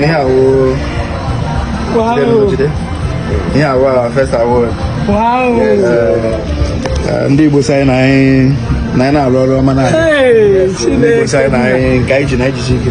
yeah wow yeah wow first award ndị Igbo sị anyị na anyị na-arụ ọrụ ọma na ndị Igbo sị anyị nke anyị ji na ejiji ike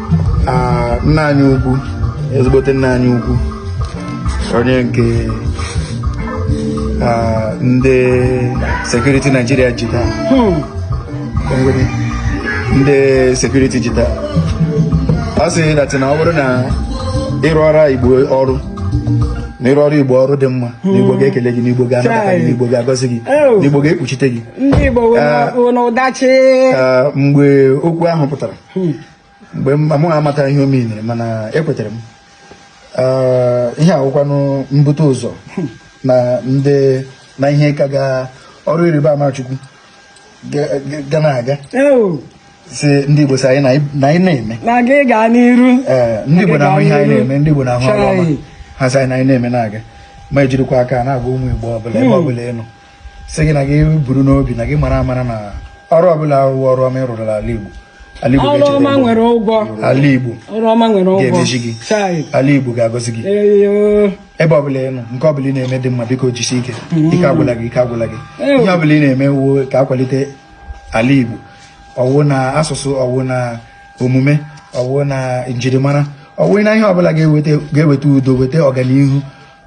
nna anyị ukwu ezigbote nna anyị ukwu onye nke ndị security Nigeria ji taa hmm. ndị security ji taa ọ sị that na ọ bụrụ na ị rụọrọ igbo ọrụ na ị rụọrọ igbo ọrụ dị mma na igbo ga-ekele gị na igbo ga-anabata gị na igbo ga-agọzi gị na igbo ga-ekpuchite gị mgbe okwu ahụ pụtara mgbe m amataghị ihe ọ meaniri mana ekwetere m ihe a wụkwanụ mbute ụzọ na ndị na ihe ka ga ọrụ ịrịba ama Chukwu ga na-aga sị ndị Igbo sị anyị na anyị na-eme na-aga gaa n'iru ndị Igbo na-ahụ ihe anyị na-eme ndị Igbo na-ahụ ọrụ ọma ha sị anyị na anyị na-eme na-aga ma ejirikwa aka na-agwa ụmụ Igbo ọbụla ebe ọbụla ị nọ sị gị na gị buru n'obi na gị mara amara na ọrụ ọbụla wụ ọrụ ọma ị rụrụ ala Igbo ala Igbo ga-echeta ọma nwere ụgwọ ala Igbo ọrụ ọma nwere ụgwọ ga-emechi gị ala Igbo ga-agọzi gị ebe ọbụla ị nọ nke ọbụla ị na-eme dị mma biko jisi ike mm. ike agwụla gị ike agwụla gị ihe ọbụla ị na-eme wụ ka a kwalite ala Igbo ọ wụ na asụsụ ọ wụ na omume ọ wụ na njirimara ọ wụ na ihe ọbụla ga-eweta udo weta ọganihu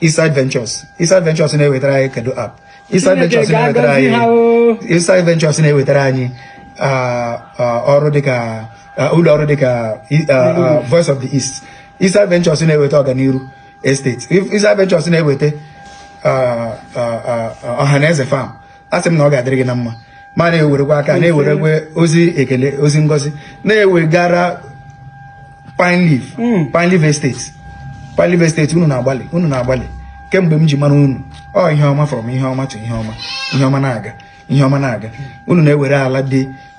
Eastside Ventures Eastside Ventures na-ewetara anyị kedu app Eastside Ventures na-ewetara anyị Eastside Ventures na-ewetara anyị ọrụ dịka ụlọ ọrụ dịka Voice of the East Eastside Ventures na-eweta ọganiru estate Eastside Ventures na-eweta ọhaneze farm a sị m na ọ ga-adịrị gị na mma ma na-ewerekwa aka na-ewerekwa ozi ekele ozi ngozi na-ewegara pine leaf hmm. pine leaf estate pine leaf estate unu na-agbalị unu na-agbalị kemgbe m ji mara unu ọ ihe ọma from ihe ọma to ihe ọma ihe ọma na-aga ihe ọma na-aga unu na-ewere ala dị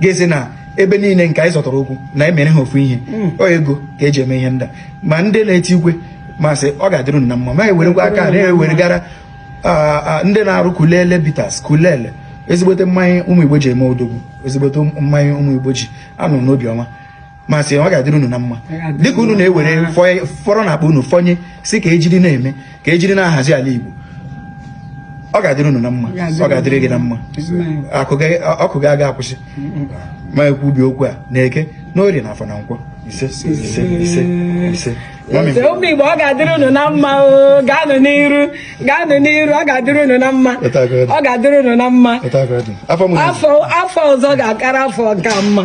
gazie na ebe niile nke anyị zọtara ụkwụ na-emere ha ofu ihe hmm. ọ ego ka e ji eme ihe ndị a ma ndị na-eti igwe m sị ọ ga-adịrị unu na mma ma ewerekwa aka na-eweregara ndị na-arụ kulele bitters kulele ezigbote mmanya ụmụ igbo ji eme odogwu ezigbote mmanya ụmụ igbo ji anọ n'obiọma ma sị ọ ga-adịrị unu na mma dịka unu na-ewere fọrọ na akpa unu fọnye sị ka ejiri na-eme ka ejiri na-ahazi ala Igbo ọ ga-adịrị unu na mma ọ ga-adịrị gị na mma ọkụ gị aga akwụsị ma ekwubie okwu a na eke n'orie na afọ na nkwọ ise ise ise ise ụmụ Igbo ọ ga-adịrị unu na mma o gaanụ n'iru gaanụ n'iru ọ ga-adịrị unu na mma ọ ga-adịrị unu na mma afọ ọzọ ga-akara afọ nke a mma